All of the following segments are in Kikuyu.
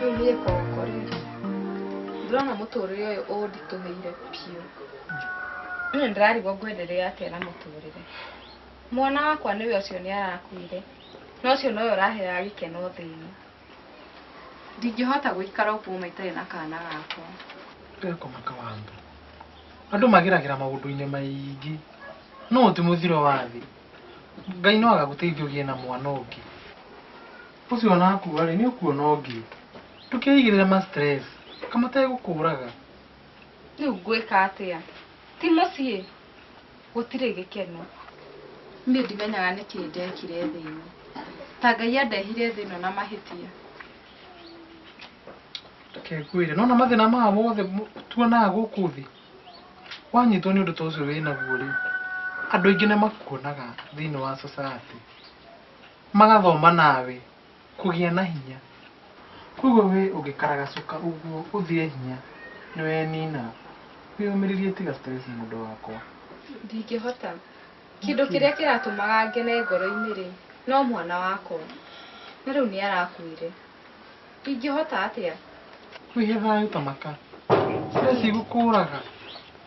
rĩu niĩ koko rĩ ndĩrona mũtũrĩre ũyũ ũnditũhĩire biũ nĩ ndĩrarigwo ngwenderea atĩa na mũtũrĩre mwana wakwa nĩwe ũcio nĩ arakuire No ũcio nowe ũraheaga gĩkeno thĩ ĩno. Ndingĩhota gũikara ũguo ma itarĩ na kana gakwa. Ndekoma kawambe. Andũ mageragĩra maũndũ-inĩ maingĩ, no ũyũ ti mũthiro wa thĩ. Ngai no agagũteithia ũgĩe na mwana ũngĩ. Ũcio wanakua-rĩ, nĩ ũkuona ũngĩ. Ndũkeigĩrĩre ma stress, ka mategũkũraga. Rĩu ngwĩka atĩa? Ti mũciĩ? Gũtirĩ gĩkeno. Niĩ ndimenyaga nĩkĩ ndekire thĩ ĩno. Ta Ngai andehire thĩ ĩno na mahĩtia. Reke ngwĩre, nĩwona mathĩna maya mothe mo- tuonaga gũkũ thĩ, wanyitwo nĩ ũndũ ta ũcio wĩ naguo rĩ, andũ aingĩ nĩ makuonaga thĩinĩ wa society, magathoma nawe. Kũgĩa na hinya. Kwoguo wĩ ũngĩkaragacuka ũguo ũthire hinya nĩwenina. Wĩyũmĩrĩrie tiga stress mũndũ wakwa. Ndingĩhota. Kĩndũ kĩrĩa kĩratũmaga ngene ngoro-inĩ-rĩ, no mwana wakwa. Na rĩu nĩarakuire. Ingĩhota atĩa? Wĩhe thayũ ta maka. Stress igũkũraga.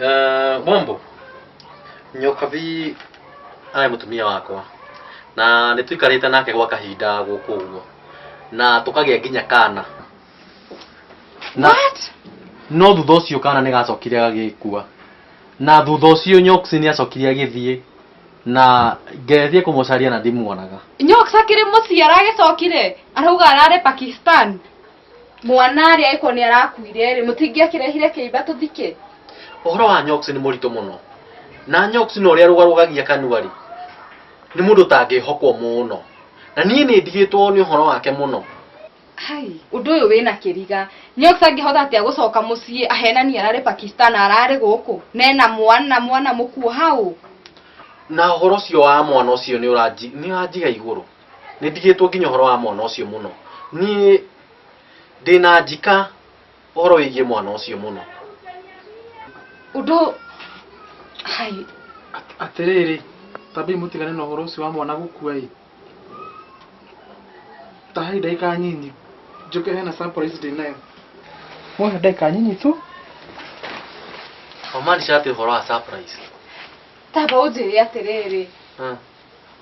Eh, Bombo, nyoka vi arä må tumia wakwa na nä twikarä te nake gwa kahinda gå kå guo na tå kagä a nginya kana na no thutha å cio kana nä gacokire gagä kua na thutha å cio nyoksi nä acokire agä thiä na ngethiä kå må caria na ndimuonaga nyoka akĩrĩ mũciara agĩcokire arauga ararĩ pakistan mwana arĩa ĩkorwo nĩ arakuire rĩ mũtingĩakĩrehire kĩimba tũthike ũhoro wa nyox nĩ mũritũ mũno na nyox na ũrĩa rũgarũgagia kanua rĩ nĩ mũndũ ũtangĩhokwo mũno na niĩ nĩ ndigĩtwo nĩ ũhoro wake mũno hai ũndũ ũyũ wĩna kĩriga nyox angĩhota atĩa gũcoka mũciĩ ahenani ararĩ pakistan ararĩ gũkũ nena mwana mwana mũkuo hau na ũhoro ũcio wa mwana ũcio nĩ ũranji- nĩ ũranjiga igũrũ nä ndigä two nginya å horo wa mwana å cio må no niä ndä na njika å horo wä giä mwana å cio må no Udo. Hai. atĩrĩrĩ tambi mũtigane na ũhoro ũcio wa mwana gũkua ĩ tahai ndagĩka nyinyi njũke hena surprise ndĩ nayo mwahe ndagĩka nyinyi tu wamaanisha atä å horo wa surprise Taba unjiri atiriri. Ah.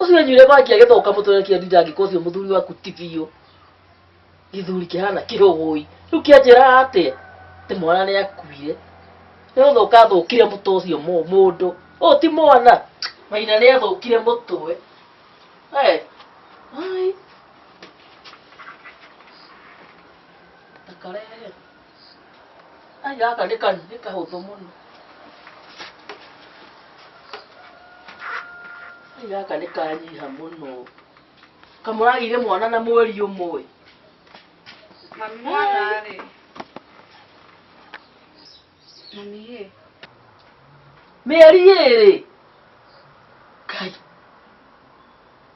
ũcio wenyuire mwaki agĩtha ũkamũtũrekia ndinda angĩkorwo ũcio mũthuri waku ti biũ gĩthuri kĩhana kĩhũgũi rĩu kĩanjĩra atĩa atĩ mwana nĩ akuire nĩ gũthũka athũkire mũtwe ũcio mũ- mũndũ ũyũ ti mwana maina nĩ athũkire mũtwe Eh, ai. Ndakarehe. Ai, gaka nĩ ka- nĩ kahũthũ mũno Ai, gaka nĩ kanyiha mũno kamũragire mwana na mweri ũmwe Mami mwana rĩ. Mami ĩ. mĩeri ĩrĩ Kai.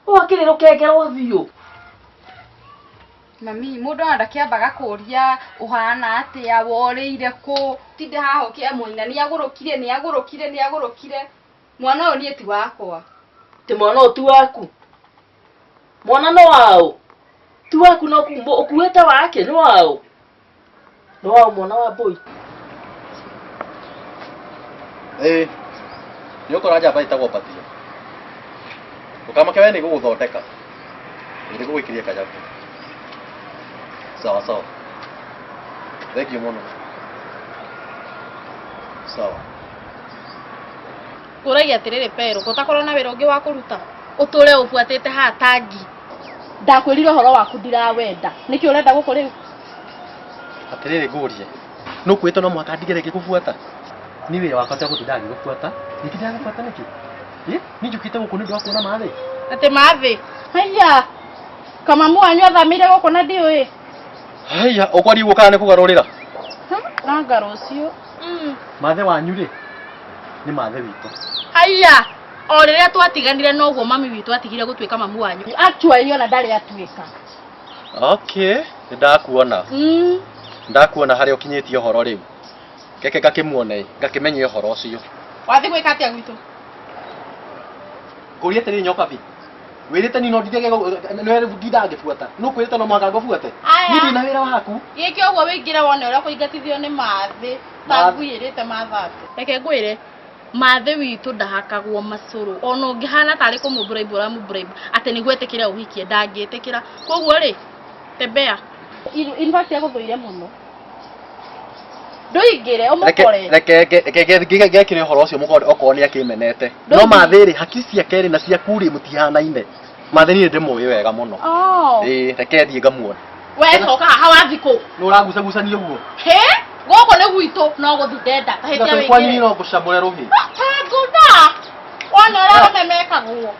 wakĩrĩ rũkenge rwa biũ mami mũndũ arenda kĩamba gakũria ũhana atĩa worĩire kũ tinde haha ũkĩamũina nĩ agũrũkire nĩ agũrũkire nĩ agũrũkire mwana ũyũ niĩ ti wakwa ti mwana ũyũ ti waku mwana nĩ waũ ti waku no ũkuĩte wake nĩ waũ Nĩwa mwana wa boy. ĩĩ nĩ ũkora njamba ĩtagwo mbatia ũkamake we nĩ gũgũthondeka nĩ gũgwĩkiria kanyabu sawa sawa thengiũ mũno sawa Kũragia atĩrĩrĩ Pero, gũtakorwo na wĩra ũngĩ wa kũruta? Ũtũre ũbuatĩte haha tangi. ndakwĩrire ũhoro waku ndirawenda nĩkĩ ũrenda gũkũ rĩu atĩrĩrĩ ngũrie nũ kwĩtwo no mũhaka ndigere ngĩgũbuata nĩ wĩra wakwa cia gũtinda ngĩgũbuata ningĩ ndagũbuata nĩkĩ Ĩ, niĩ njũkĩte gũkũ nĩ ũndũ wa kuona mathĩ atĩ mathĩ haiya kamamu wanyu athamĩire gũkũ na ndiũĩ haiya ũkwari ũguo kana nĩ kũgarũrĩra nanga rũciũ mathĩ wanyu rĩ nĩ mathĩ witũ haiya o rĩrĩa twatiganire noguo mami witũ atigire gũtuĩka mamu wanyu actually ona ndarĩ atuĩka okay nĩ ndakuona mm. ndakuona harĩa ũkinyĩtie ũhoro rĩu keke ngakĩmuone ngakĩmenye ũhoro ũcio wathiĩ gwĩka atĩa gwitũ ngũria atĩrĩ nyoka bi wĩrĩte nino ndithage nditha ngĩbuata nũ kwĩrĩte no mũhaka ngũbuate Aya. niĩ ndĩna wĩra waku gĩke ũguo wĩingĩre wone ũrĩa kũingatithio nĩ mathĩ Mathĩ. tanguĩrĩte mathatũ reke ngwĩre Mathĩ witũ ndahakagwo macũrũ ona ũngĩhana tarĩ kũmũbraibu ũramũbraibu atĩ nĩguo etĩkĩre ũhikie ndangĩtĩkĩra koguo rĩ tembea In- in fact agũthũire mũno ndũingĩre ũmũkore ngekire å horo å cio må korwo nä akä menete No no mathä rä haki ciake rä na ciaku rä må tihanaine Mathĩ niĩ ndĩmũĩ wega mũno. Oh. Ĩĩ, reke thiĩ ngamuona. We coka haha wathiĩ kũ? Nĩ ũrangucagucania ũguo? Hĩ? Gũkũ nĩ gwitũ no gũthiĩ ndenda. Tahĩtia Tiga kwanyu wĩingĩre. no ngũcamũre rũhĩ. Tanguta! Wona ũrĩa arũme mekagwo.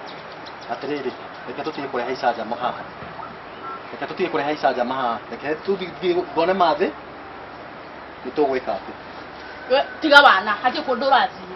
Atĩrĩrĩ, reke tũtige kũrehe icanjama haha. Reke tũtige kũrehe icanjama haha. Reke tũthiĩ thiĩ ngone mathĩ. Nĩ tũgwĩka atĩ. We, Tiga wana, hatirĩ kũndũ ũrathiĩ.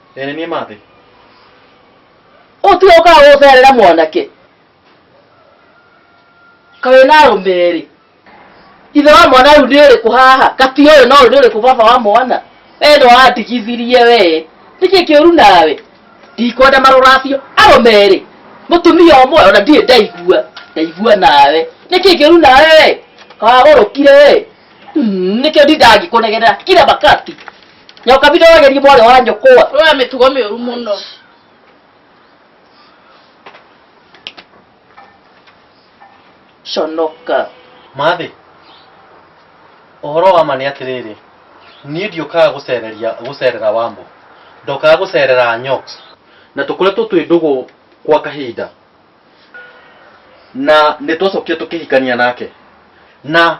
Ene niĩ mathĩ. ũtiga ũkaga gũcerera mwanake kawĩ na arũme erĩ ithe wa mwana rĩu nĩ ũrĩkũ haha kati ũyũ na ũyũ nĩ ũrĩkũ baba wa mwana we nĩ wandigithirie we nĩkĩ kĩũru nawe ndikwenda marũracio arũme erĩ mũtumia ũmwe ona ndirĩ ndaigua ndaigua nawe nĩkĩ kĩũru nawe we kawagũrũkire we Mm, nĩkĩo ndindangĩkũnegerera kira makati nyoka bita wagerie mwari wa nyũkwa Wewe mĩtugo mĩũru mũno. conoka mathĩ ũhoro wa ma nĩ atĩrĩrĩ niĩ ndiũkaga gũcereria gũcerera wambo ndokaga gũcerera nyox na tũkoretwo twĩ ndũgũ kwa kahinda na nĩ twacokire tũkĩhikania nake na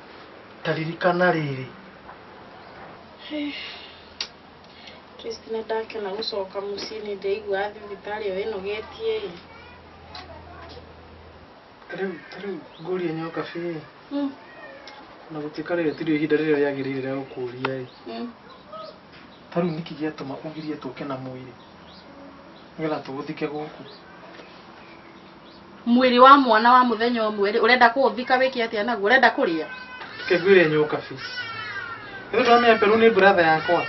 ta ririkana rĩrĩ Kristi nĩ ndakena gũcoka mũciĩ nĩ ndaigua thibitarĩ ĩyo ĩnogetie ĩ rĩu ta rĩu ngũria nyoka bĩ Mm, na gũtuĩka rĩrĩ tirio ihinda rĩrĩa rĩagĩrĩire rĩa gũkũria ĩ mm. ta rĩu nĩkĩ gĩatũma ũgirie tũke na mwĩrĩ nĩgetha tũhũthĩke gũkũ Mwĩrĩ wa mwana wa mũthenya ũmwe rĩ, ũrenda kũũthika wĩke atĩa naguo? Ũrenda kũrĩa? Kegwire nyũka biũ. Rĩu ndamenya Peru nĩ brother yakwa.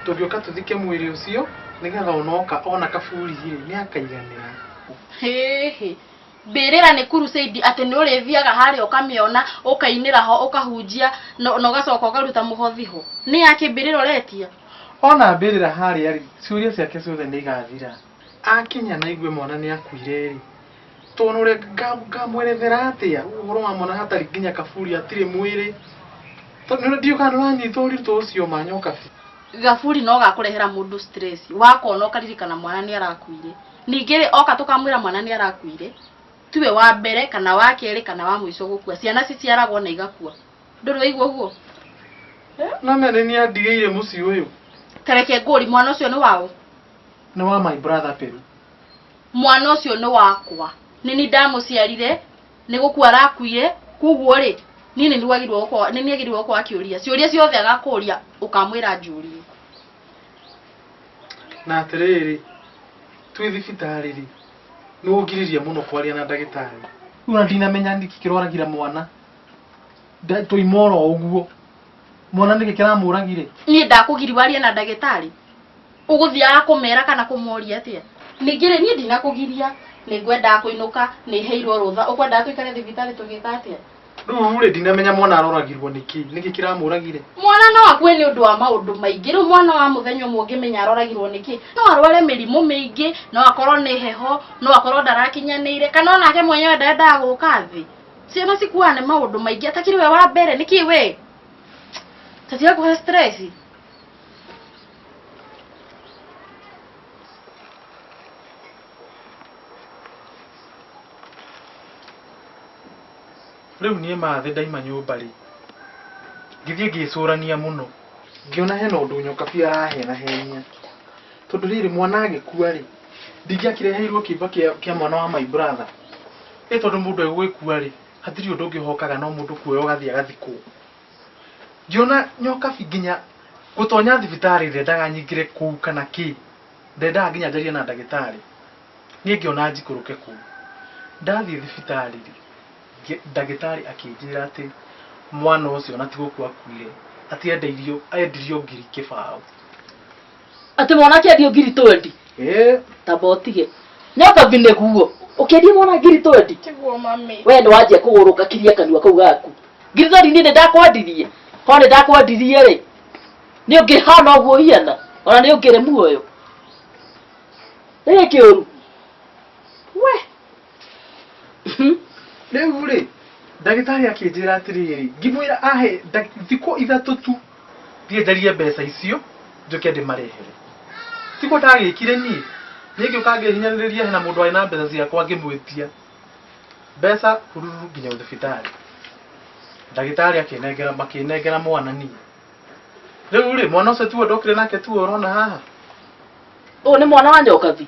Tũngĩũka tũthike mwĩrĩ ũcio nĩgetha onoka ona kaburi rĩ nĩ akaiganĩra. Hĩhĩ. Mbĩrĩra nĩ crusade atĩ nĩ ũrĩthiaga harĩa ũkamĩona, ũkainĩra ho, ũkahunjia na na ũgacoka ũkaruta mũhothi ho. Nĩ yakĩ mbĩrĩra ũretia? Ona mbĩrĩra harĩa rĩ, ciũria ciake ciothe nĩ igathira. Akinya na aigue mwana nĩ akuire-rĩ, tũnũre ngamwerethera atĩa ũhoro wa mwana hatarĩ nginya kaburi hatirĩ mwĩrĩ? Tondũ ndiũĩ kana nĩ ũranyita ũritũ ũcio ma nyoka biũ. Gaburi no gakũrehera mũndũ stress, wakona ũkaririkana mwana nĩ arakuire. Ningĩ-rĩ, oka tũkamwĩra mwana nĩ arakuire, tiwe wa mbere kana wa kerĩ kana wa mũico gũkua. Ciana ciciaragwo na igakua. Ndũrĩ waigua ũguo? No nĩ niĩ andigĩire mũciĩ ũyũ. Ta reke ngũrie, mwana ũcio nĩ wa ũ? nĩ wa my brother peru mwana ũcio nĩ wakwa nĩ ni ndamũciarire nĩ gũkua arakuire koguo rĩ niĩ nĩ nĩwagĩrĩirwo gũkorwo- nĩ nĩagĩrĩirwo gũkorwo akĩũria ciũria ciothe agakũria ũkamwĩra njũrie na atĩrĩrĩ twĩ thibitarĩ rĩ nĩ ũngiririe mũno kwaria na ndagĩtarĩ rĩu ona ndinamenya nĩkĩ kĩrwaragira mwana Nda- tũima oro ũguo mwana nĩkĩ kĩramũragire niĩ ndakũgiri warie na ndagĩtarĩ ũgũthiaga kũmera kana kũmoria atĩa ningĩ rĩ niĩ ndinakũgiria nĩ ngwendaga kũinũka nĩ heirwo rũtha ũkwendaga tũikare thibitarĩ tũgĩka atĩa rĩu rĩ ndinamenya mwana aroragirwo nĩkĩ nĩkĩ kĩramũragire mwana no akue nĩ ũndũ wa maũndũ maingĩ rĩu mwana wa mũthenya ũmwe ũngĩmenya aroragirwo nĩkĩ no arware mĩrimũ mĩingĩ no akorwo nĩ heho no akorwo ndarakinyanĩire kana onake mwenyewe ndendaga gũka thĩ ciana cikuaga nĩ maũndũ maingĩ atakĩrĩ we wa mbere nĩkĩ we tatiga kũhe stress rĩu niĩ mathĩ ndaima nyũmba rĩ ngĩthiĩ ngĩcũrania mũno ngĩona hena ũndũ nyoka biũ arahenahenia tondũ rĩrĩ mwana agĩkua rĩ ndingĩakĩreheirwo kĩimba kĩa kĩa mwana wa my brother ĩ tondũ mũndũ egũgĩkua rĩ hatirĩ ũndũ ũngĩ ũhokaga no mũndũ kuoya ũgathiĩ agathikwo Ndiona nyokabi nginya gũtonya thibitarĩ ndendaga nyingĩre kũu kana kĩ. Ndendaga nginya njarie na ndagĩtarĩ. Niĩ ngĩona njikũrũke kũu. Ndathiĩ thibitarĩ rĩ, ndagĩtarĩ akĩnjĩra atĩ mwana ũcio ona ti gũkua akuire, atĩ endirio ngiri kĩbaũ. Atĩ mwana akĩendio ngiri twendi. Eh. Tamba ũtige. Nyamba mbine guo. Ũkĩendia mwana ngiri twendi. Tiguo mami. Wee nĩ wanjia kũgũrũka kiria kanua kau gaku. Ngiri twendi niĩ nĩ ndakwendirie. Korwo nĩ ndakwendirie rĩ, nĩ ũngĩhana ũguo hiana. Ona nĩ ũngĩrĩ muoyo. Nĩ kĩũru. We. rĩu rĩ ndagĩtarĩ akĩnjĩra atĩrĩrĩ ngĩmwĩra ahe nda- thikũ ithatũ tu thiĩ njarie mbeca icio njoke ndĩmarehere tiguo ndagĩkire niĩ ningĩ ũkangĩhinyanĩrĩria hena mũndũ arĩ na mbeca ciakwa ngĩmwĩtia mbeca hururu nginya thibitarĩ ndagĩtarĩ akĩnengera makĩnengera mwana niĩ rĩu rĩ mwana ũcio tiwe ndokire nake tiwe ũrona haha ũyũ nĩ mwana wa nyokathi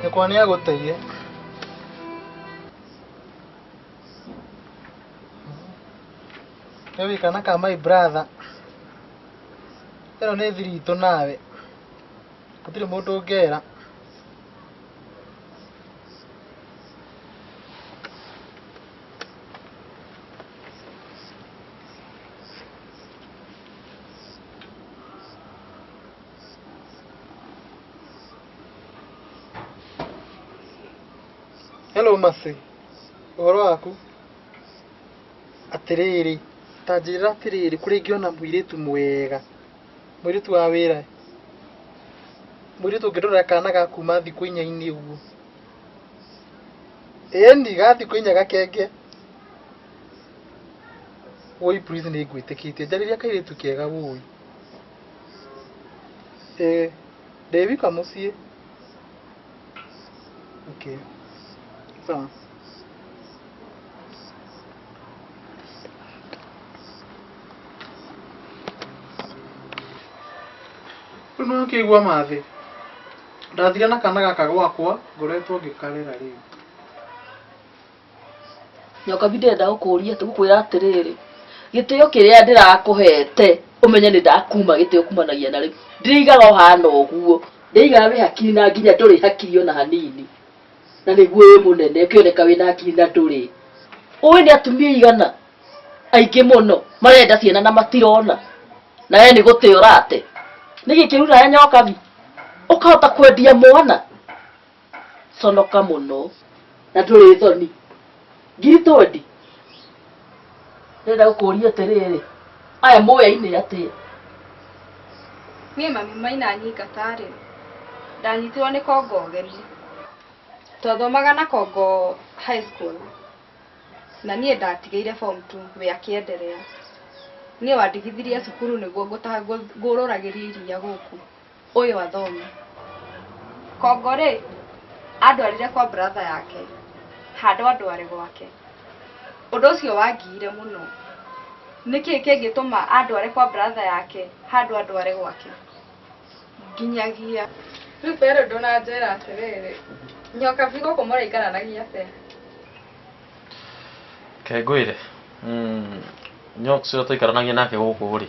nyũkwa nĩ agũteire nĩ wĩkana ka my brother ĩno nĩ thiri itũ nawe gũtirĩ mũndũ ũngera Hello Mercy, ũhoro waku? Atĩrĩrĩ, ta njĩra atĩrĩrĩ, kũrĩa ingĩona mũirĩtu mwega, mũirĩtu wa wĩra, mũirĩtu ũngĩndorera kana ga kuma thikũ inya-inĩ ũguo. Ĩni, ga thikũ inya gakenge. Woi please nĩ ngwĩtĩkĩtie njarĩria kairĩtu kega woi. Eh, ndĩ wika mũciĩ. Okay. Sawa. Rĩu nĩ wakĩigua mathĩ. Ndathire na kana gaka gwakwa ngoretwo ngĩkarera rĩu. nyoka bi ndĩrenda gũkũria gũkwĩra atĩrĩrĩ gĩtĩo kĩrĩa ndĩrakũhete ũmenye nĩ ndakuma gĩtĩo kumanagia na rĩu ndĩigaga ũhana ũguo ndĩigaga wĩ hakiri na nginya ndũrĩ hakiri ona hanini na nĩguo wĩ mũnene ũkĩoneka wĩ na hakiri na ndũrĩ ũĩ nĩ atumia igana aingĩ mũno marenda ciana na matirona na we nĩ gũte ũrate nĩ gĩkĩru nawe nyoka bi ũkahota kwendia mwana conoka mũno na ndũrĩ thoni ngiritondi ndĩrenda gũkũria atĩrĩrĩ aya mũyainĩ atĩa niĩ mami maina nyingatarĩ ndanyitirwo nĩ kongo ũgeni twathomaga na kongo high school na niĩ ndatigĩire form two we akĩenderea niĩ wandigithirie cukuru nĩguo ngũrũragĩrie iria gũkũ ũyũ athomi kongo rĩ andwarire kwa bratha yake handũ andware gwake ũndũ ũcio wangiire mũno nĩkĩ kĩngĩtũma andware kwa bratha yake handũ andware gwake nginyagia rĩu pero ndũnanjĩra atĩrĩrĩ nyoka bigo kũmũraikaranagia te kengwĩre mm, nyoka ũcio tũikaranagia nake gũkũ rĩ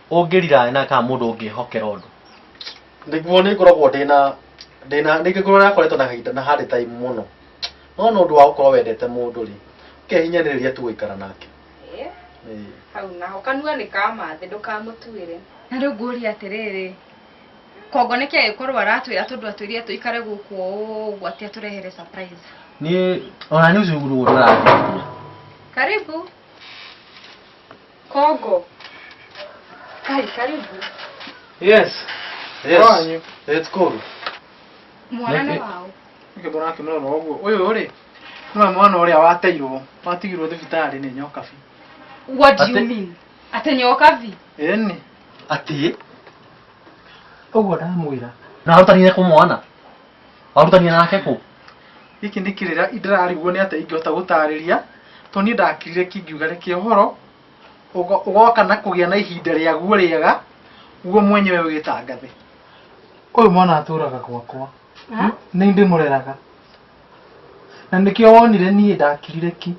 ũngĩrira na kana mũndũ ũngĩhokera ũndũ nĩguo nĩ ngoragwo ndĩna ndĩna ningĩ ngoragwo nakoretwo na kahinda na harĩ time mũno no nĩ ũndũ wa gũkorwo wendete mũndũ rĩ ũkehinyanĩrĩria tu gũikara nake Eh, Ĩĩ. hau naho kanua nĩ kamathĩ ndũkamũtuĩre na rĩu ngũria atĩrĩrĩ kongo nĩkĩ agĩkorwo aratwĩra tondũ atwĩrire tũikare gũkũ ũguo atĩ atũrehere surprise niĩ ona nĩ ũcuguru ũrĩa ũrathiĩ karibu Kongo. Kali karibu. Yes. Yes. Wanyu. Let's go. Mwanana Nake- wao. Nĩkĩ mbona akĩmũrora ũguo? Ũyũ rĩ, nĩwe mwana ũrĩa wateirwo, watigirwo thibitarĩ nĩ nyoka bi. What do you Ate- mean? Atenyoka vi. Ĩni. Atĩ? Ũguo ndamwĩra. Na ahotanire kũmwana. Warutania nake kũ? gĩkĩ nĩ kĩrĩra ndarariguo nĩ atĩa ingĩhota gũtarĩria to niĩ ndakirire kĩngiuga reke ũhoro ũgo- ũgoka na kũgĩa na ihinda rĩaguo rĩega guo mwenyewe wĩtangathe ũyũ mwana atũraga gwakwa Ha? nĩ ndĩmũreraga na nĩkĩo wonire niĩ ndakirire ki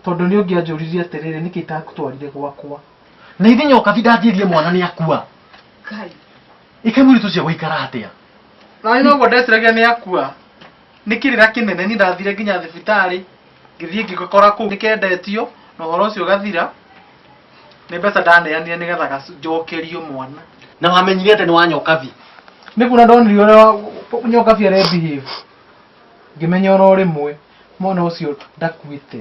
tondũ nĩ ũngĩanjũririe atĩrĩrĩ nĩkĩ itakũtwarire gwakwa na ithinya ũkathi ndanjĩrie mwana nĩ akua Kai. Ike mũritũ cia gũikara atĩa? Na noguo ndeciragia nĩ akua. Nĩ kĩrĩra kĩnene niĩ ndathire nginya thibitarĩ ngĩthiĩ ngĩgakora kũu nĩ kendetio na ũhoro ũcio ũgathira. Nĩ mbeca ndaneanire nĩgetha gac- njokerio mwana. Na wamenyire atĩ nĩ wa nyokabi. Nĩ kuona ndonire ũrĩa nyokabi arĩ behave ngĩmenya oro rĩmwe mwana ũcio ndakuĩte.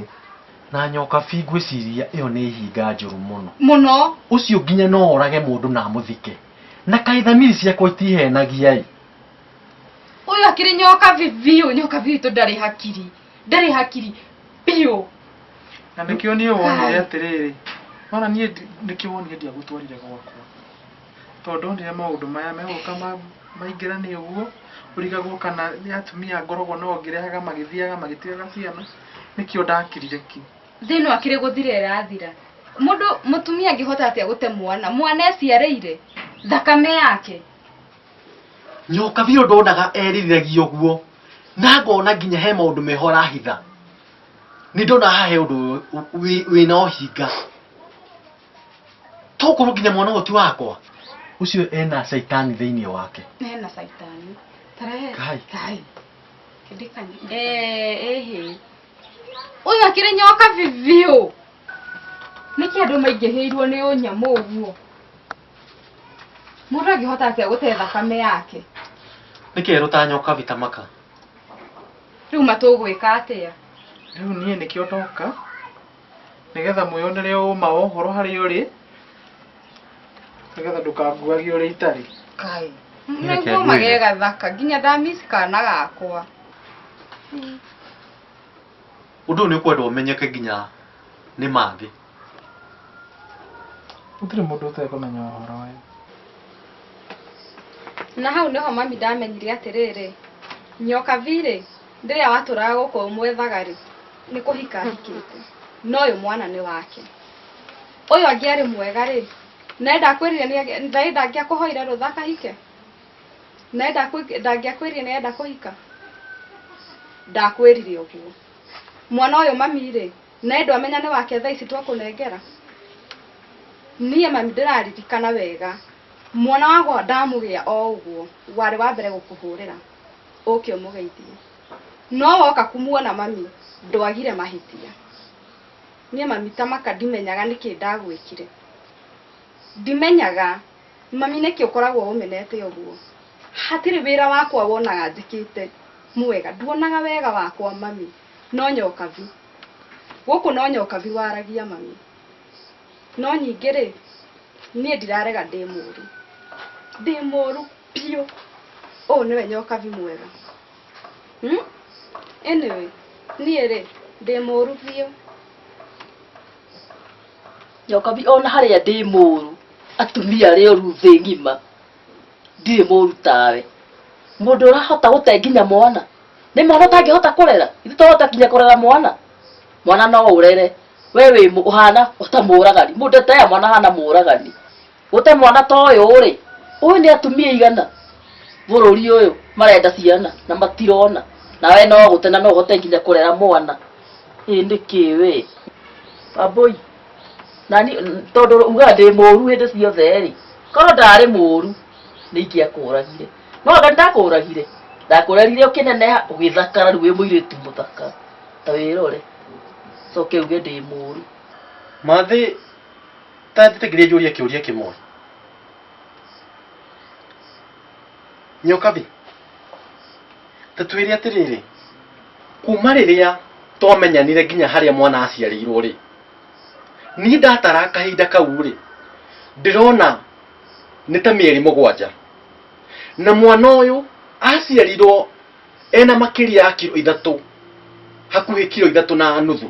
Na nyokabi ngwĩciria ĩyo nĩ ihinga njũru mũno. Mũno. Ũcio nginya no orage mũndũ na amũthike. Na kaĩ thamiri ciakwa itiheenagia-ĩ! Ũyũ akĩrĩ nyoka vi- biũ, nyoka biũ itũ ndarĩ hakiri, ndarĩ hakiri biũ. Na nĩkĩo niĩ wonire Kai. atĩrĩrĩ, wona niĩ ndi- nĩkĩo wonire ndiagũtwarire gwakwa. Tondũ ndonire maũndũ maya megũka ma- maingĩrane ũguo, ũrigagwo kana nĩ atumia ngoragwo nao ngĩrehaga magĩthiaga magĩtigaga ciana, nĩkĩo ndakirire ki. thĩ ĩno akĩrĩ gũthira ĩrathira mũndũ mũtumia angĩhota atĩa gũte mwana mwana eciarĩire thakame yake nyoka biũ ndonaga eririragia ũguo na ngona nginya he maũndũ meho arahitha nĩ ndona haha he ũndũ wĩ- wĩ- wĩna ũhinga tokorwo nginya mwana ũyũ ti wakwa ũcio ena caitani thĩinĩ wake hena caitani tarehe Kai. kai kĩndĩkani ĩhĩ Ũyũ akĩrĩ nyoka bibiũ. Nĩkĩ andũ maingĩhĩirwo nĩ ũnyamũ ũguo? Mũndũ angĩhota atĩa gũte thakame yake? Nĩ kerũ ta nyoka vita maka. Rĩu matũgwĩka atĩa? Rĩu niĩ nĩkĩo ndoka. nĩgetha mwĩyonere ũma wa ũhoro harĩa ũrĩ nĩgetha ndũkanguage ũrĩa itarĩ kai Nĩreke nĩguo ngwĩre. magĩe gathaka nginya ndamisi kana gakwa ũndũ ũyũ nĩ ũkwenda ũmenyeke nginya nĩ mangĩ gũtirĩ mũndũ ũtekũmenya ũhoro ũyũ na hau nĩho mami ndamenyire atĩrĩrĩ nyoka virĩ rĩrĩa watũraga gũkũ ũmwethaga rĩ nĩ kũhika ahikĩte no ũyũ mwana nĩ wake ũyũ angĩarĩ mwega rĩ naye ndakwĩrire nĩ- naye ndangĩakũhoire rũtha akahike naye ndakwĩ- ndangĩakwĩrire nĩ enda kũhika ndakwĩrire ũguo mwana ũyũ mami rĩ naye ndwamenya nĩ wake thaa ici twakũnengera niĩ mami ndĩraririkana wega mwana wakwa ndamũgĩa o ũguo warĩ wa mbere gũkũhũrĩra ũke ũmũgeithie no woka kumuona mami ndwagire mahĩtia niĩ mami tamaka ndimenyaga nĩkĩ ndagwĩkire ndimenyaga mami nĩkĩ ũkoragwo ũmenete ũguo hatirĩ wĩra wakwa wonaga njĩkĩte mwega nduonaga wega wakwa mami no nyokabi gũkũ no nyokabi waragia mami no ningĩ rĩ niĩ ndirarega ndĩ mũru ndĩ mũru Piũ. Ũũ nĩwe nyokabi mwega. Hmm? Anyway, niĩ rĩ, ndĩ mũru biũ. Nyokabi ona harĩa ndĩ mũru atumia arĩ oru thĩ ng'ima ndirĩ mũru tawe mũndũ ũrahota gũte nginya mwana nĩ mwana ũtangĩhota kũrera ithu tũhota kinya kũrera mwana mwana no ũrere we wĩ mũ- ũhana ũta mũragani mũndũ etea mwana hana mũragani gũte mwana ta ũyũ rĩ ũyũ nĩ atumia igana bũrũri ũyũ marenda ciana na matirona na we no gũte na no ũhote nginya kũrera mwana ĩ nĩ kĩ wĩ amboi nani tondũ ugaga ndĩ mũru hĩndĩ ciothe rĩ korwo ndarĩ mũru nĩ ingĩakũragire no anga ndakũragire ndakũrerire ũkĩneneha ũgĩthakara rĩu wĩ mũirĩtu mũthaka ta wĩrore coke uge ndĩ mũru Mathĩ Ta njĩtĩkĩrie njũrie kĩũria kĩmwe. Nyokabi, ta twĩre atĩrĩrĩ, kuma rĩrĩa twamenyanire nginya harĩa mwana aciarĩirwo rĩ, niĩ ndatara kahinda kau rĩ, ndĩrona nĩ ta mĩeri mũgwanja. Na mwana ũyũ aciarirwo ena makĩria ya kiro ithatũ, hakuhĩ kiro ithatũ na nuthu.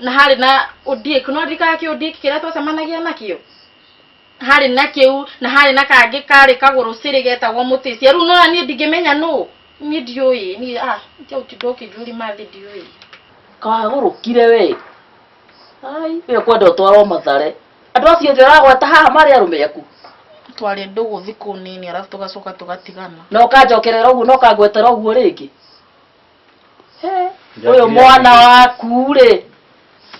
na harĩ na Ondiek no ndirikana kĩ Ondiek kĩrĩa twacemanagia nakĩo harĩ na kĩu na harĩ na kangĩ karĩ kagũrũ cirĩ getagwo mũtĩcia rĩu nona niĩ ndingĩmenya nũ niĩ ndiũĩ niĩ ah tia ũtinda ũkĩnjũri mathĩ ndiũĩ kagũrũkire we ai ĩyo kwenda ũtwarwo mathare andũ acio othe ũragweta haha marĩ arũme aku twarĩ ndũgũ thikũ nini arabu tũgacoka tũgatigana na ũkanjokerera ũguo na ũkangwetera ũguo rĩngĩ ũyũ mwana waku rĩ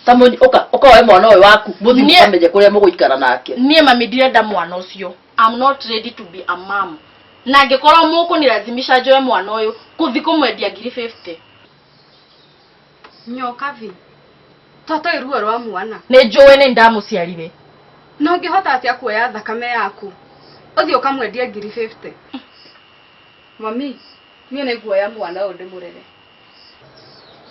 ta mũny- ũka- ũkaoe mwana ũyũ waku mũthiĩ Niĩ- mũkamenye kũrĩa mũgũikara nake niä mami ndirenda mwana å cio I'm not ready to be a mom na angä korwo må kå nä razimisha njoe mwana å yå kå thi kå mwendia ngiri 50 nyoka vi tatoä ruo rwa mwana nä njå ä nä ndamå ciarire no ngä hota atä a kuoya thakame yaku å thiä å kamwendia ngiri 50 Mami, niĩ nĩ nguoya mwana ũyũ ndĩmũrere.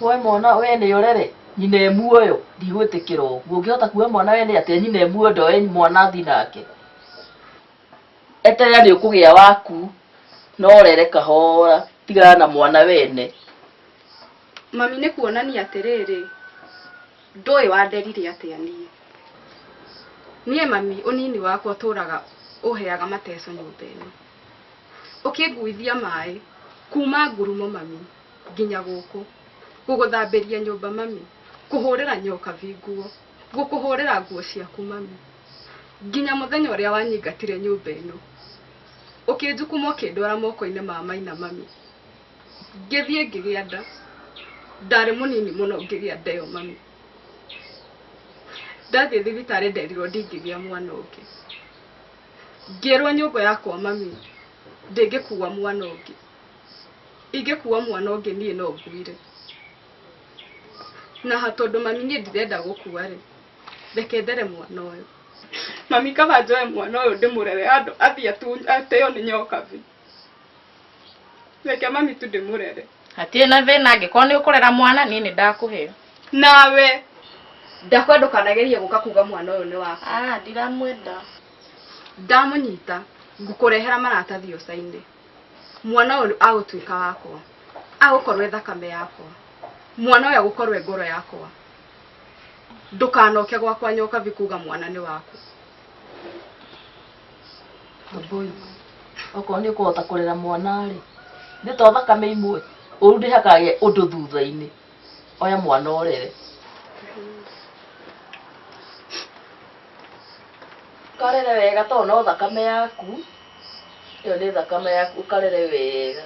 Woe mwana we nĩ ũrere nyina e muoyo ndigwĩtĩkĩra ũguo ũngĩhota kuoya mwana we nĩ atĩa nyina e muoyo ndoe mwana athi nake eterera nĩ ũkũgĩa waku no ũrere kahora tigana na mwana wene Mami nĩ kuonania atĩrĩrĩ, ndũĩ wanderire atĩa niĩ. Niĩ mami ũnini wakwa ũtũraga ũheaga mateso nyũmba ĩno. Ũkĩnguithia maĩ kuuma ngurumo mami nginya gũkũ. Ngũgũthambĩria nyũmba mami, kũhũrĩra nyokabi nguo, ngũkũhũrĩra nguo ciaku mami. Nginya mũthenya ũrĩa wanyingatire nyũmba ĩno. Ũkĩnjukuma ũkĩndwara moko-inĩ ma maina mami. Ngĩthiĩ ngĩgĩa nda, ndarĩ mũnini mũno ngĩgĩa nda ĩyo mami. Ndathiĩ thibitarĩ nderirwo ndingĩgĩa mwana ũngĩ. ngĩrwo nyũmba yakwa mami ndĩngĩkua mwana ũngĩ ingĩkua mwana ũngĩ niĩ no nguire na ha tondũ mami niĩ ndirenda gũkua rĩ reke ndere mwana ũyũ mami kaba njoe mwana ũyũ ndĩmũrere handũ athiĩ atu- ateo nĩ nyoka bi Reke mami tu ndĩmũrere. hatirĩ na thĩna angĩkorwo nĩ ũkũrera mwana niĩ nĩ ndakũhe Nawe. Ndakwenda ndũkanagerie gũka kuga mwana ũyũ nĩ waku. ah ndiramwenda Ndamũnyita ngũkũrehera maratathi ũcainĩ. Mwana ũyũ agũtuĩka wakwa. Agũkorwo e thakame yakwa. Mwana ũyũ agũkorwo e ngoro yakwa. Ndũkanoke gwakwa nyoka bi kuga mwana nĩ waku. Wambũi, okorwo nĩ ũkũhota kũrera mwana-rĩ nĩ to thakame imwe ũru ndĩhakage ũndũ thutha-inĩ oya mwana ũrere karere wega to no thakame yaku ĩyo nĩ thakame yaku ũkarere wega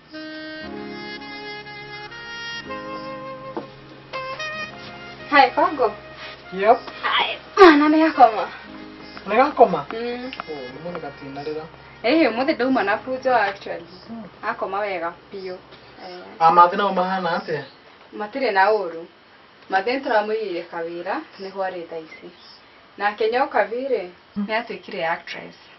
Hi, Pago. Yep. Hi. Mwana nĩ gakoma. Nĩ gakoma? Mm. Oh, nĩ mũnĩ gatinarĩra. Eh, ũmũthĩ ndauma na bujo actually. Hmm. Akoma wega biũ. Eh. Amathi nao mahana atĩa? Matirĩ na ũru. Mathi nĩtũramũigĩire kawĩra nĩho arĩ thaa ici. Nake nyoka virĩ hmm. nĩatuĩkire actress.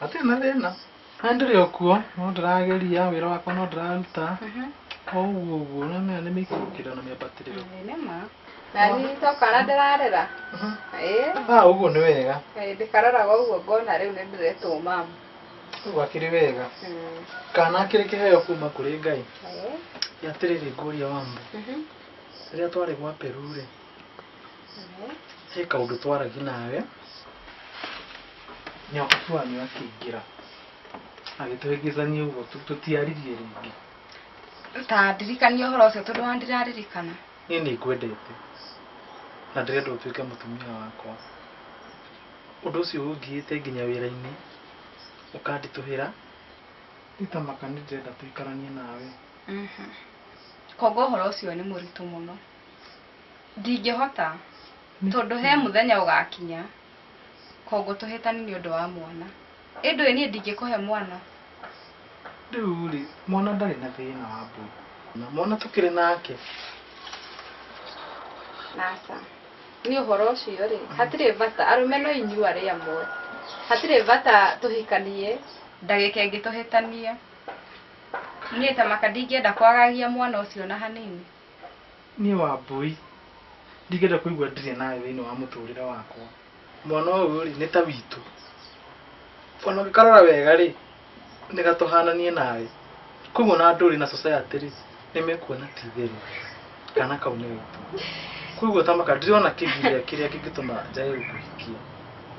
hatirĩ na thĩna na ndĩrĩ o kuo no ndĩrageria wĩra wakwa no ndĩraruta o ũguo ũguo na maya nĩ mĩikũrũkĩrĩro na mĩambatĩrĩro Nĩma. Na niĩ tokana ndĩrarera. Ĩĩ. ah ũguo nĩ wega Ĩĩ, Ndĩkareraga ũguo ngona rĩu nĩ ndĩretwo mamu. ũguo akĩrĩ wega Mm. kana akĩrĩ kĩheo kuma kũrĩ ngai Ĩĩ. atĩrĩrĩ ngũria wambo Mhm. rĩrĩa twarĩ gwa peru rĩ he kaundu twaragi nawe nyakubu wanyu akingira agituhingizania uguo tutiaririe ringi ta ndirikanie horo ucio tondu wa ndiraririkana nie ni ngwendete na ndirenda utuike mutumia wakwa undu ucio ungiite nginya wira-ini ukandituhira nditamaka ni ndirenda tuikaranie nawe koguo horo ucio ni muritu muno Ndingĩhota tondũ he mũthenya ũgakinya kongo tũhĩtani nĩ ũndũ wa mwana ĩndũ ĩ niĩ ndingĩkũhe mwana rĩu rĩ mwana ndarĩ na thĩna wa mbũ na mwana tũkĩrĩ nake aca nĩ ũhoro ũcio rĩ hatirĩ bata arũme no inyuĩ arĩ amwe hatirĩ bata tũhikanie ndagĩka ĩngĩ tũhĩtanie niĩ ta maka ndingĩenda kwagagia mwana ũcio ona hanini. Niĩ Wambũi ndingĩenda kũigua ndirĩ nawe thĩinĩ wa mũtũrĩre wakwa. Mwana ũyũ rĩ nĩ ta witũ. Ona ũngĩkarora wega rĩ nĩ gatũhana niĩ nawe. Koguo ona andũ rĩ na society rĩ nĩ mekuona ti itherũ kana kau nĩ gaitũ. Koguo Tamaka ndirona kĩgiria kĩrĩa kĩngĩtũma njage gũkũhikia.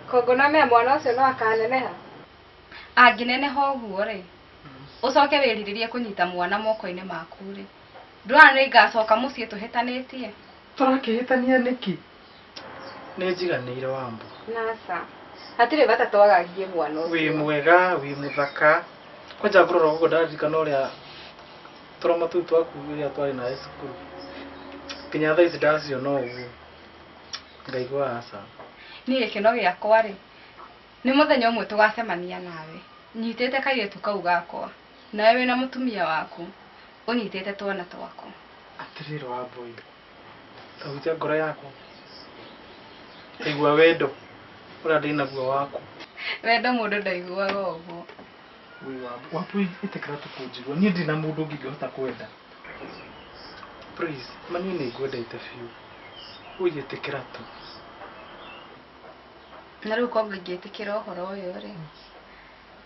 Koguo nĩ ũmenye mwana ũcio no akaneneha? Angĩneneha ũguo rĩ, ũcoke wĩrirĩrie kũnyita mwana moko-inĩ maku rĩ. ndwara nĩ ngacoka mũciĩ tũhĩtanĩtie tũrakĩhĩtania nĩkĩ nĩ njiganĩire wambo nasa hatirĩ bata twagagie mwana ũcio. wĩ mwega wĩ mũthaka kwanja ngũrora ũguo ndaririkana ũrĩa tũroma tũu twaku rĩrĩa twarĩ nawe cukuru nginya thaa ici ndaciona ũguo ngaigua aca niĩ gĩkeno gĩakwa rĩ nĩ mũthenya ũmwe tũgacemania nawe nyitĩte kairĩtu kau gakwa Nawe wĩ na mũtumia waku ũnyitĩte twana twaku. Atĩrĩrĩ Wambũi, ta hunjia ngoro yaku, ta igua wendo ũrĩa ndĩ naguo waku. Wendo mũndũ ndaiguaga ũguo. Wĩ Wambũi, Wambũi ĩtĩkĩra tu kũnjigua, niĩ ndirĩ na mũndũ ũngĩ ingĩhota kwenda. Please, ma niĩ nĩ ngwendete biũ, ũi ĩtĩkĩra tu. Na rĩu kwanga ingĩtĩkĩra ũhoro ũyũ rĩ?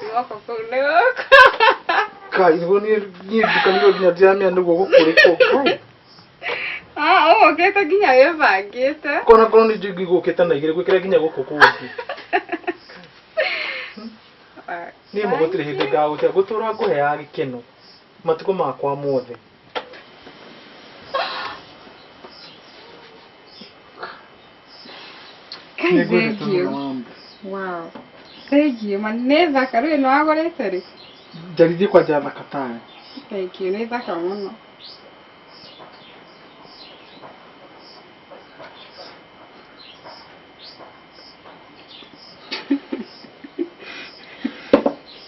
guoko kũu nĩ gũkũ kai nĩguo niĩ niĩ ndukanĩrio nginya ndiramenya nĩguo gũkũrĩ kũu Ah, oh, ũgĩte nginya wĩbangĩte kona korwo nĩ njingi gũkĩte na igĩrĩ gwĩkĩra nginya gũkũ kũngĩ niĩ mũgũtirĩ hĩndĩ ngagũtia ngũtũra ngũheaga gĩkeno matukũ makwa mothe Kai, Nĩ ngwendete thank you. mũno mamu. Wow. Thank you. Man, nĩ thaka rĩu ĩno wagũrĩte rĩ? Njarithie kwa njaa thaka tayo. Thank you. Nĩ thaka mũno.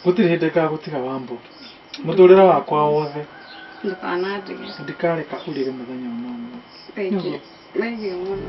Gũtirĩ hĩndĩ ngagũtiga wambo. mũtũrĩre wakwa wothe ndũkanandige ndikareka ũrĩre mũthenya ona ũmwe thengiũ thengiũ mũno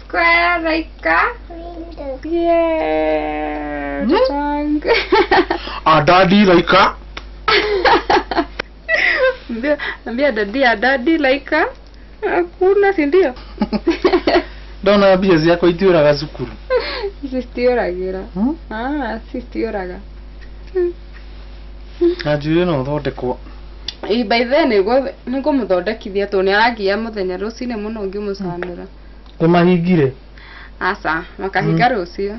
Subscribe, like, subscribe. Yeah. The song. A daddy like a. Ambia- Ambia daddy, a daddy like a. Hakuna, si ndio? Ndona mbia ciakwa itiũraga cukuru. Citiũragĩra. Hmm? Ah, citiũraga. Na njuĩrĩ no thondekwo. Ii, by then nĩguo nĩngũmũthondekithia tondũ nĩaragia mũthenya rũcinĩ mũno ngĩmũcanũra Nĩ mahingire? Aca, makahinga rũciũ.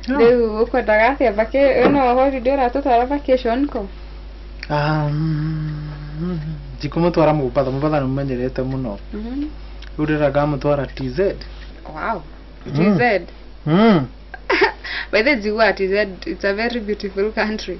Rĩu ũkwendaga atĩa vaki ĩno holiday ũratũtwara vacation kũ? Ah, mm, Ndikũmũtwara Mombatha, Mombatha nĩ mũmenyerete mũno. Mhm. Rĩu ndĩrenda ngamũtwara TZ. Wow. Mm. TZ. Mm. By the way, Jiwa, TZ, it's a very beautiful country.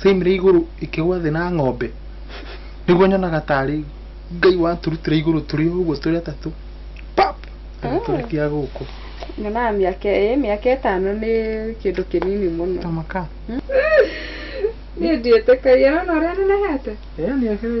same rĩ igũrũ ĩkĩgwa thĩ na ng'ombe nĩguo nyonaga tarĩ ngai waturutire igũrũ tũrĩ o ũguo tũrĩ atatũ pap agĩtũrekia gũkũ nyonaga mĩaka ĩ mĩaka ĩtano nĩ kĩndũ kĩnini mũno ta maka niĩ ndiĩtĩkagia nona ũrĩa nenehete ĩyo nĩ akĩrĩ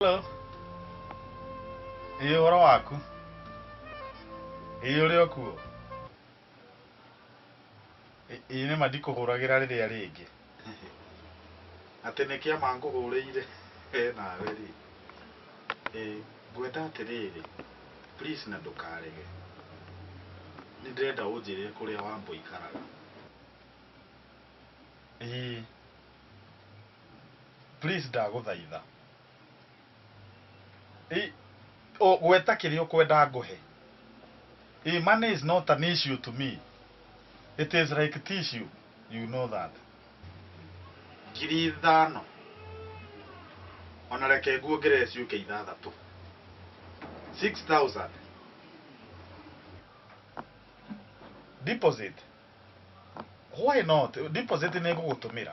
Hello. Ĩĩ ũhoro waku? Ĩĩ ũrĩ o kuo? Ĩĩ nĩma ndikũhũragĩra rĩrĩa rĩngĩ. Atĩ nĩ kĩama ngũhũrĩire we nawe rĩ. Ĩĩ ngwenda atĩrĩrĩ please na ndũkarege. Nĩ ndĩrenda ũnjĩre kũrĩa Wambũi aikaraga. Ĩĩ please ndagũthaitha. Ĩ, ũ- gweta kĩrĩa ũkwenda ngũhe Ĩ, money is not an issue to me it is like tissue you know that ngiri ithano ona reke nguongerere ciũke ithathatũ 6000 deposit why not deposit nĩ ngũgũtũmĩra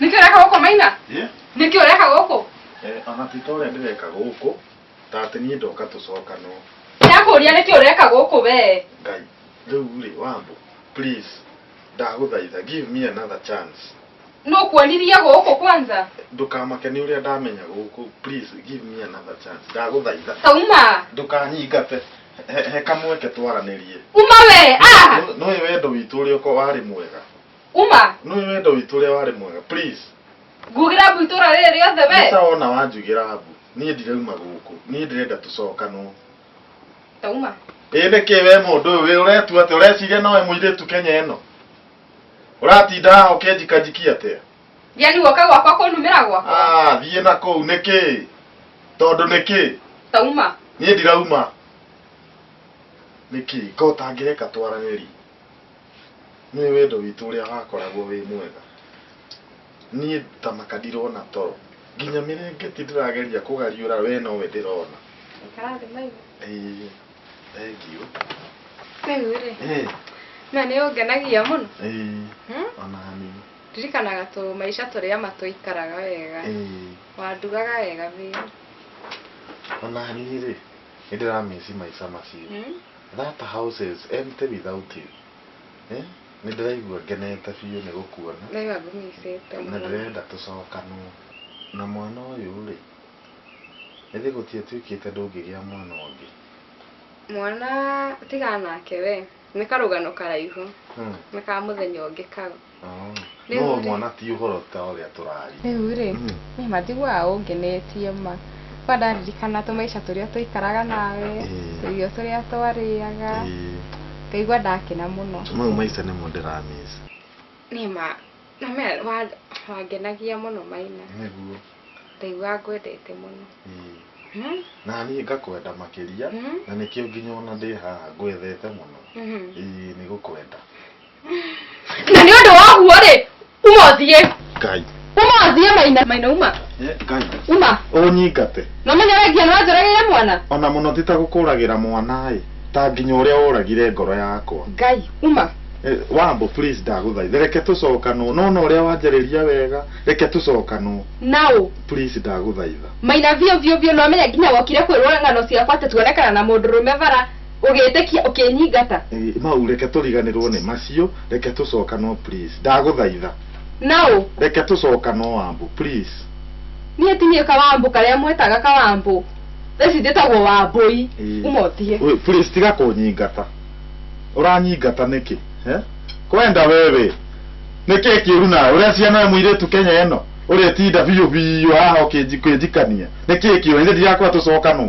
nĩkĩ ũreka gũkũ maina Yeah. nĩkĩ ũreka gũkũ Eh, ona ti ta ũrĩa ndĩreka gũkũ ta atĩ niĩ ndoka tũcokanwo ndakũria nĩkĩ ũreka gũkũ wee ngai rĩu rĩ wambo please ndagũthaitha give me another chance no kuonirie gũkũ kwanza ndũkamake nĩ ũrĩa ndamenya gũkũ please give me another chance ndagũthaitha sauma ndũkanyingate He- he kamweke twaranĩrie uma we ah Nũ- nũĩ wendo witũ ũrĩa ũko warĩ mwega uma nũĩ wendo witũ ũrĩa warĩ mwega please ngugira mbu itũra rĩrĩ rĩothe we nĩtawona wanjugĩra mbu niĩ ndirauma gũkũ niĩ ndĩrenda tũcokanwo tauma ĩ nĩ kĩ we mũndũ ũyũ wĩ ũretua atĩ ũreciria nowe mũirĩtu kenya ĩno ũratinda haha ũkĩnjikanjikia atĩa thia nĩ guoka gwakwa kũnumĩra gwakwa Ah, thiĩ na kũu nĩ kĩ tondũ nĩ kĩ tauma niĩ ndirauma nĩ kĩ ngota ngĩreka twaranĩri nĩ wendo witũ ũrĩa wakoragwo wĩ mwega Niĩ ndamaka ndirona toro. Nginya mĩrengeti ndĩrageria kũgariũra we nowe ndĩrona. Ikara thĩ maigũ. Ĩĩ, thengiũ. Rĩu rĩ, Ĩĩ, na nĩ ũngenagia mũno. ĩĩ, Hmm? ona niĩ. Ndirikanaga tũ maica tũrĩa ma twaikaraga wega. Ĩĩ, Wandugaga wega biũ. ona niĩ rĩ, nĩ ndĩramĩci maica macio. Hmm? That house is empty without you. Eh? Nĩ ndĩraigua ngenete biũ nĩ gũkuona. Wega ngũmicĩte mũno. Na ndĩrenda tũcokanwo. Na mwana ũyũ rĩ, ĩthĩ gũtiatuĩkĩte ndũngĩgĩa mwana ũngĩ? Mwana tigana nake we. Nĩ karũgano karaihu. Hmm. Nĩ ka mũthenya ũngĩ kau. Oh. Rĩu No rĩ- mwana ti ũhoro ta ũrĩa tũraria. Rĩu rĩ, niĩ matiguaga ũngenetie ma. kwa ndaririkana tũmaica tũrĩa twaikaraga nawe Ĩĩ. tũirio tũrĩa twarĩaga Ĩĩ, ngaigua ndakena mũno mau maica nĩmo ndĩramĩca nĩma nĩma wa- wangenagia mũno maina nĩguo ndaigua ngwendete mũno Ĩĩ. Hmm? na niĩ ngakwenda makĩria Mhm. na nĩkĩo nginya ona ndĩ haha ngwethete mũno Mhm. Ĩĩ, nĩ gũkwenda na nĩ ũndũ wa ũguo rĩ Uma ũthiĩ. Ngai. Uma ũthiĩ maina maina uma. Eh, Ngai. Uma. Ũnyingate. Na ũmenyeregia nĩ wanjũragĩire mwana. Ona mũno ti ta gũkũragĩra mwana ĩ. Ta nginya ũrĩa ũragire ngoro yakwa. Ngai. Uma. Eh, Wambo please ndagũthaitha reke tũcokanwo nona ũrĩa wanjarĩria wega reke tũcokanwo Naũ. please ndagũthaitha Maina biũ biũ biũ nĩ wamenya nginya wokire kwĩrwo ng'ano ciakwa atĩ tuonekana na mũndũrũme bara. ũgĩtĩkia ũkĩnyingata Ĩ, mau reke tũriganĩrwo nĩ macio reke tũcokanwo please ndagũthaitha naũ reke tũcokanwo wambu please niĩ ti niĩ kawambũ karĩa mwetaga kawambũ thaa ici njĩtagwo wambũi Ĩ. uma ũtige Wĩ, please tiga kũnyingata ũranyingata nĩkĩ eh? kwenda wewe nĩkĩ kĩũru nawe ũrĩa ciana we mũirĩtu kenya ĩno ũrĩtinda biũ biũ haha ũkĩnji- ũkĩnjikania nĩkĩ kĩũru ithe ndirakwĩra tũcokanwo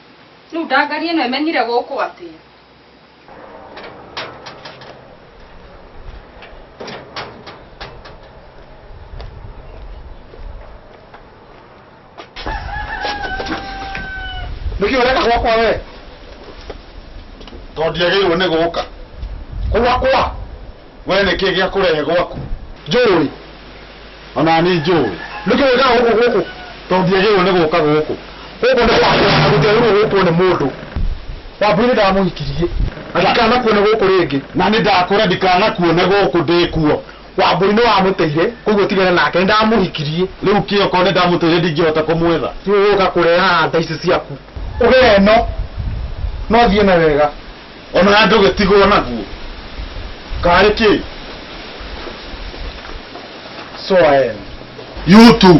Rĩu ndangari ĩno ĩmenyire gũkũ atĩa? nĩkĩ ũreka gwakwa we tondũ ndiagĩrĩirwo nĩ gũka gwakwa we nĩkĩ gĩakũrehe gwaku njũĩ ona ni njũĩ nĩkĩ wĩkaga gũkũ gũkũ tondũ ndiagĩrĩirwo nĩ gũka gũkũ gũkũ nĩ kwakwa gũtiagĩrĩirwo gũkwo nĩ mũndũ wambũire ndamũhikirie na ndikanakuone gũkũ rĩngĩ na nĩ ndakũra ndikanakuone gũkũ ndĩkuo wambũi nĩ wamũteire koguo tigana nake nĩ ndamũhikirie rĩu kĩ okorwo nĩ ndamũteire ndingĩhota kũmwetha rĩu ũka kũrehaga nda ici ciaku ũgeno no thiĩ na wega O na ndũgĩtigwo naguo. Karĩ kĩ? So I am. You too.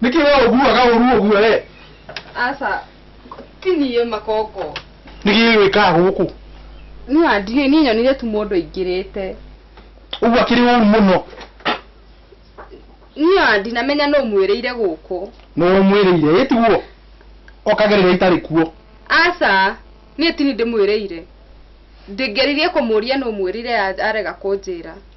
Nĩkĩ we ũguaga ũru ũguo we? Aca, ti niĩ makoko. Nĩkĩ wĩkaga gũkũ? Niĩ andiũĩ, niĩ nyonire tu mũndũ aingĩrĩte. Ũguo akĩrĩ ũru mũno. Niĩ ndinamenya nũ ũmwĩrĩire gũkũ. Nũ ũmwĩrĩire, ĩ tiguo? Okage rĩrĩa itarĩ kuo. Aca, niĩ ti niĩ ndĩmwĩrĩire. Ndingĩaririe kũmũria nũ ũmwĩrĩire arega kũnjĩra.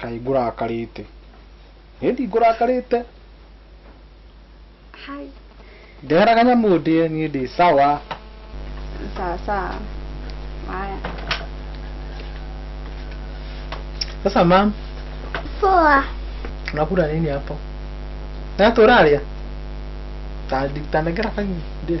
kaĩ ngũrakarĩte niĩ ndingũrakarĩte Hi. ndehera kanyamũ ndĩe niĩ ndĩ sawa Sawa sawa. Haya. sasa mam Poa. unakula nini hapo na turaria tanengera kanyi ndĩe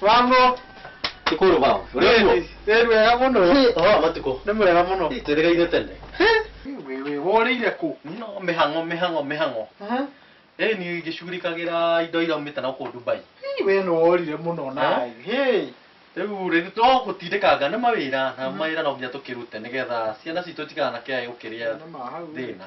mambo Ikuru baba. Urembo. ä wega må no Oh, matuko. nä må rega må no Tweregeire tene. wä wå rä ire kå No mihango mihango mihango. Eh ni ngishughulikagĩra indo iraumĩte na kũu Dubai. wä nä worire må no naä Rĩu rĩu to gũtindĩkanga nĩ mawĩra na mawĩra no nginya tũkĩrute nĩgetha ciana citũ itikanakĩage gũkĩrĩa thĩna.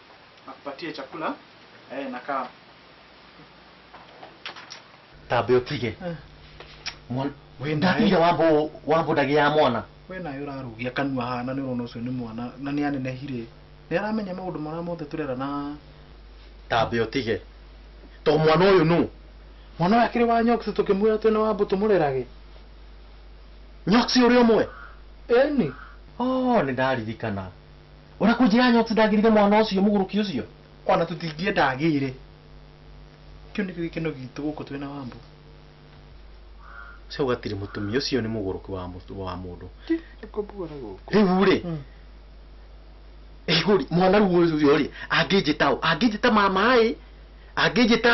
akupatie chakula eh, na kaa tambe utige Eh. Mwan- Wĩ ndakuire naĩ- wambo wambo ndagi ya mwana we nayo ũrarugia kanua hana nĩ ũrona ũcio nĩ mwana na nĩ anenehire nĩ aramenya maũndũ marĩa mothe tũrera na tambe utige to mwana uyu nu mwana ũyũ akĩrĩ wa nyoksi tũkĩmwĩra twĩna wambo tũmũrerage nyoksi ũrĩ ũmwe eni oh nĩ ndaririkana Ũrĩa kũnjĩra Nyoti ndagĩrire mwana ũcio mũgũrũki ũcio. Ona tũtingĩenda agĩre. Kĩu nĩkĩo gĩkeno gitũ gũkũ twĩ na Wambũi. Cau gatirĩ mũtumia ũcio nĩ mũgũrũki wa mũtu wa mũndũ. Rĩu rĩ Igũri mwana rĩu ũcio rĩ angĩnjĩta ũ? Angĩnjĩta mama ĩ? Angĩnjĩta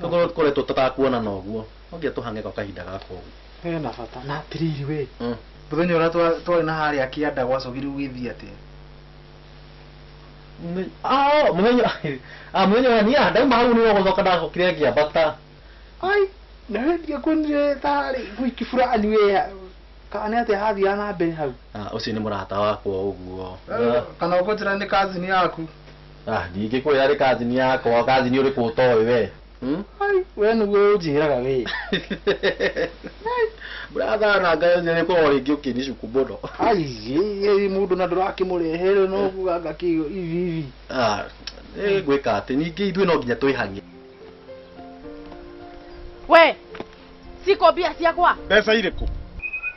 Tũkorwo kũrĩa tũtatakuonana ũguo. Ũngĩa tũhange kwa kahinda gaka ũguo. Hena bata. Na atĩrĩrĩ we. Mm. Mũthenya ũrĩa twa- twarĩ na harĩa kĩanda gwacokire gũgĩthiĩ atĩa? Mũthenya- Ah, mũthenya ah, mũthenya ũrĩa niĩ ndauma hau nĩ gũcoka ndacokire ngĩambata. Ai, na we ndiakuonire tarĩ wiki fulani we. Kana nĩ atĩa hathiaga na mbere hau? Ah, ũcio nĩ mũrata wakwa ũguo. Kana ũkũnjĩra nĩ cousin yaku? Ah, ndingĩkwĩra rĩ kazini yakwa kazini ũrĩkũ ũtoĩ we Hmm? Ai, we nĩguo ũnjĩraga wĩ bratha na ngayo njĩrĩ korwo rĩngĩ ũkĩnicuku mũno aiyĩ mũndũ na ndũrakĩmũrehere no kuganga kĩo ivi ivi Ah, eh, ngwĩka atĩ ningĩ ithuĩ no nginya twĩhang'e we ciko mbia ciakwa mbeca irĩkũ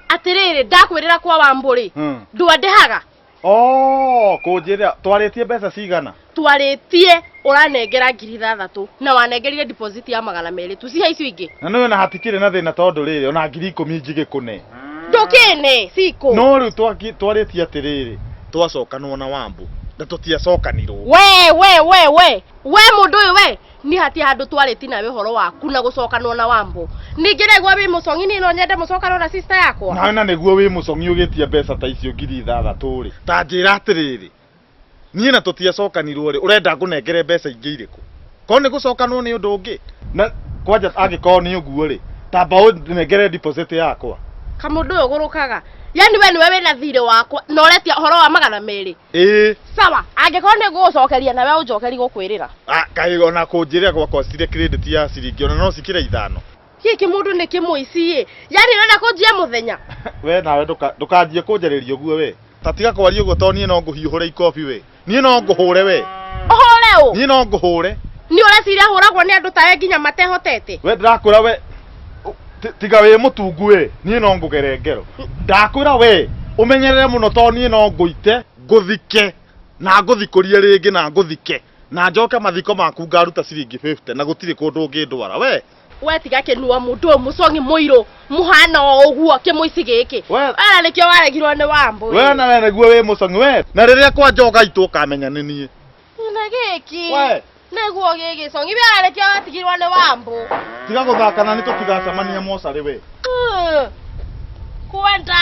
atĩrĩrĩ ndakwĩrĩra kwa wambũrĩ Hmm. ndwandehaga Oh, kũnjĩrĩra twarĩtie mbeca cigana? twarĩtie ũranengera ngiri ithathatũ na wanengerire deposit ya magana merĩ tucihe icio ingĩ Na nĩwe na hatikĩrĩ na thĩna tondũ rĩrĩ ona ngiri ikũmi njigĩkũne. ndũkĩne cikũ No rĩu twaki- twarĩtie atĩrĩrĩ, twacokanwo na Wambũ na tũtiacokanirwo. we we we we we mũndũ ũyũ we ni hati handu twari tina we horo waku na gucokanwo na wambo ningi regwa wi mucongi ni no nyende mucokanwo na sister yakwa nawe na nĩguo wĩ mũcong'i ũgĩtia mbeca ta icio ngiri ithathatũ rĩ ta njĩra atĩrĩrĩ niĩ na tũtiacokanirwo rĩ ũrenda ngũnengere mbeca ingĩ irĩkũ korwo nĩ gũcokanwo nĩ ũndũ ũngĩ na kwanja angĩkorwo nĩ ũguo rĩ tamba ũnengere deposit yakwa kamundu uyu gurukaga yani we niwe wina thirĩ wakwa na uretia horo wa magana meri ĩĩ sawa angĩkorwo nĩ ngũgũcokeria na we ũnjokeri gũkwĩrĩra Ah, kaĩ ona kũnjĩrĩra gwakwa cirĩ credit ya ciringi ona no cikĩra ithano gĩkĩ mũndũ nĩ kĩmũiciĩ yani ũrenda kũnjia mũthenya we nawe ndũka- ndũkanjie kũnjarĩria ũguo we ta tiga kwaria ũguo to niĩ no ngũhiũhũre ikobi we niĩ no ngũhũre we ũhũre ũ niĩ no ngũhũre nĩ ũreciria hũragwo nĩ andũ tawe nginya matehotete we ndĩrakwĩra we Ũ- ti- tiga wĩ mũtungu wĩ niĩ no ngũgere ngero ndakwĩra we ũmenyerere mũno to niĩ no ngũite ngũthike na ngũthikũrie rĩngĩ na ngũthike na njoke mathiko maku ngaruta ciringi 50 na gũtirĩ kũndũ ũngĩndwara we we tiga kĩnua mũndũ ũyũ mũcong'i mũirũ mũhana o ũguo kĩmũici gĩkĩ We- ara nĩkĩo waregirwo nĩ wambũ we na we nĩguo wĩ mũcong'i we na rĩrĩa kwa njoga itũ ũkamenya nĩ niĩ na gĩkĩ we nĩguo gĩgĩcong'i wĩarekia watigirwo nĩ wambũ tiga gũthakana nĩ tũtigacemania mocarĩ we Uh, kwenda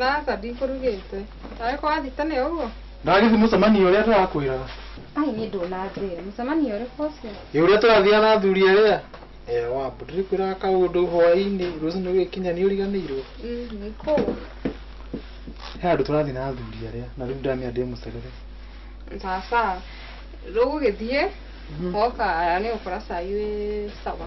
Aca ndikũrugĩte. Nawe kwa thita nĩ ũguo? Ndagĩthi mũcemanio ũrĩa tũrakwĩraga. Ai niĩ ndũnanjĩra. Mũcemanio ũrĩkũ ũcio? Ĩ ũrĩa tũrathiaga na athuri arĩa? Ee wambu ndĩrĩkwĩraga kaũndũ hwaĩ-inĩ rũcinĩ gũgĩkinya nĩ ũriganĩirwo. Mm, Nĩ kũũ? He handũ tũrathiĩ na athuri arĩa na rĩu ndamenya ndĩmũcerere. Sasa rĩu ũgĩthiĩ woka nĩ ũgũkora cai wĩ sawa.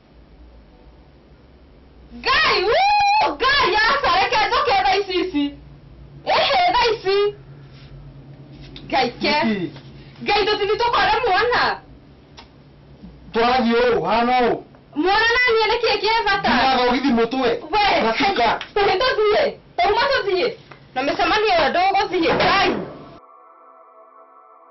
ngai wuu, ngai aca reke njoke tha ici ici ĩhĩ tha ici ngai ke Nĩkĩ? ngai tũtini tũkore mwana twarathiĩ ũũ hana ũũ mwana naniĩ nĩ kĩĩ kĩ bata ndinathogithi mũtwe we Rafika. tũtini tũthiĩ tauma tũthiĩ na mĩcemanio ĩyo ndũgũthiĩ ngai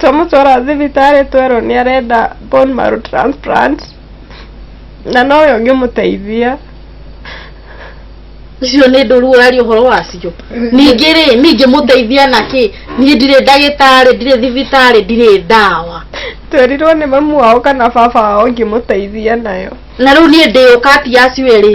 twamũtwara thibitarĩ twerwo nĩ arenda bone marrow transplant na nowe ũngĩmũteithia icio nĩ ndũru ũraria ũhoro wacio ningĩ rĩ ningĩ mũteithia na kĩ niĩ ndirĩ ndagĩtarĩ ndirĩ thibitarĩ ndirĩ ndawa twerirwo nĩ mamu wao kana baba wao ngĩmũteithia nayo na rĩu niĩ ndĩũka ati acio erĩ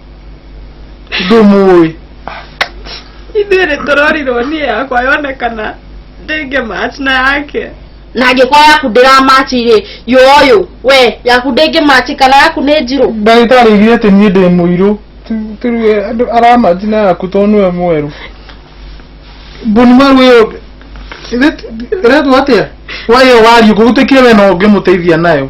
ndũmũĩ ithuĩ nĩ tũrorirwo niĩ yakwa yonekana ndĩngĩ match na yake na angĩkorwo yaku ndĩramachi rĩ yoyũ we yaku ndĩngĩ machi kana yaku nĩ njirũ ndagĩtarĩ augire atĩ niĩ ndĩ mũirũ Tu- turuge andũ aramaji na yaku tondũ nĩwe mwerũ mbuni maru ĩyo ĩretwo atĩa wa ĩyo wariĩ ngũgũtĩkire we no ũngĩmũteithia nayo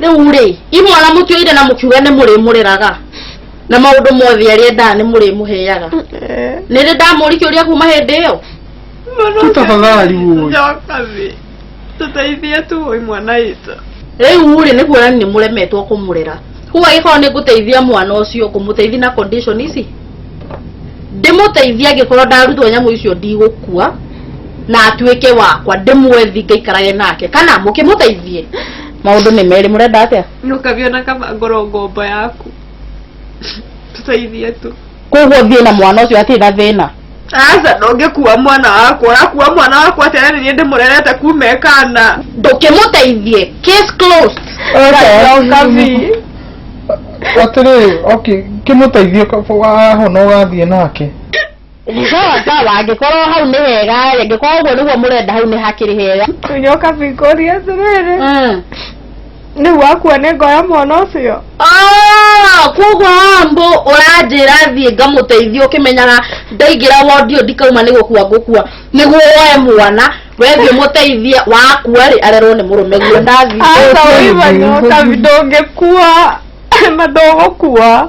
rĩu rĩ imwana mũtuĩire na mũkiuga nĩ mũrĩmũreraga na maũndũ mothe arĩa endaga nĩ mũrĩmũheaga nĩ rĩ ndamũri kĩũria kuma hĩndĩ ĩyo Tũtafadhali ũyũ. Njoka thĩ. Tũteithie tu ũyũ mwana witũ. rĩu rĩ nĩ kuona nĩ mũremetwo kũmũrera kuga gĩkorwo nĩ ngũteithia mwana ũcio ngũmũteithia na condition ici ndĩmũteithia angĩkorwo ndarutwo nyamũ icio ndigũkua na atuĩke wakwa ndĩmwethi ngaikarage nake kana mũkĩmũteithie maundu ni meri murenda atia no kaviona kama ngoro ngombo yaku tuteithie tu koguo thiä na mwana å cio atä na thä na aca ndångäkua mwana wakwa ũrakua mwana wakwa atĩa nĩ niĩ ndĩmũrerete kuma ekana ndå kä må teithie kabi atirä kä må teithie ahona å gathiä nake Sawa sawa, angĩkorwo hau nĩ hega, angĩkorwo ũguo nĩguo mũrenda hau nĩ hakĩrĩ hega. nyoka bikori atĩrĩrĩ Mm. nĩu wakuo nĩ ngoya mwana ũcio Ah, koguo ambo ũranjĩra thiĩ ngamũteithia ũkĩmenyaga ndaingĩra wondi ũyũ ndikauma nĩ gũkua ngũkua nĩguo woe mwana wethiĩ mũteithie wakua rĩ arerwo nĩ mũrũme guo ndathiĩ aca ũiva nyoka ndũngĩkua na ndũgũkua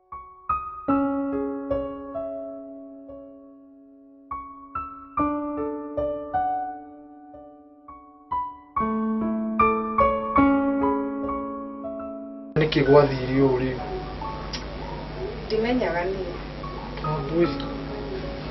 nĩkĩ gwathire ũũ rĩu ndimenyaga niĩ Wambui,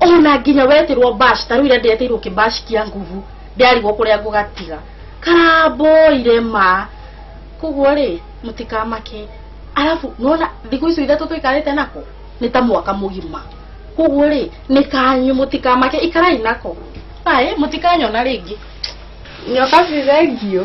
ona nginya wetirwo bash ta riu ira ndiretirwo kibash kia nguvu ndiarigwo kuria ngugatiga karamboire ma koguo ri mutikamake arafu nona thiku icio ithatu tuikarite nako ni ta mwaka mugima koguo ri ni kanyu mutikamake ikarai nako ai mutikanyona ringi nyoka cithengio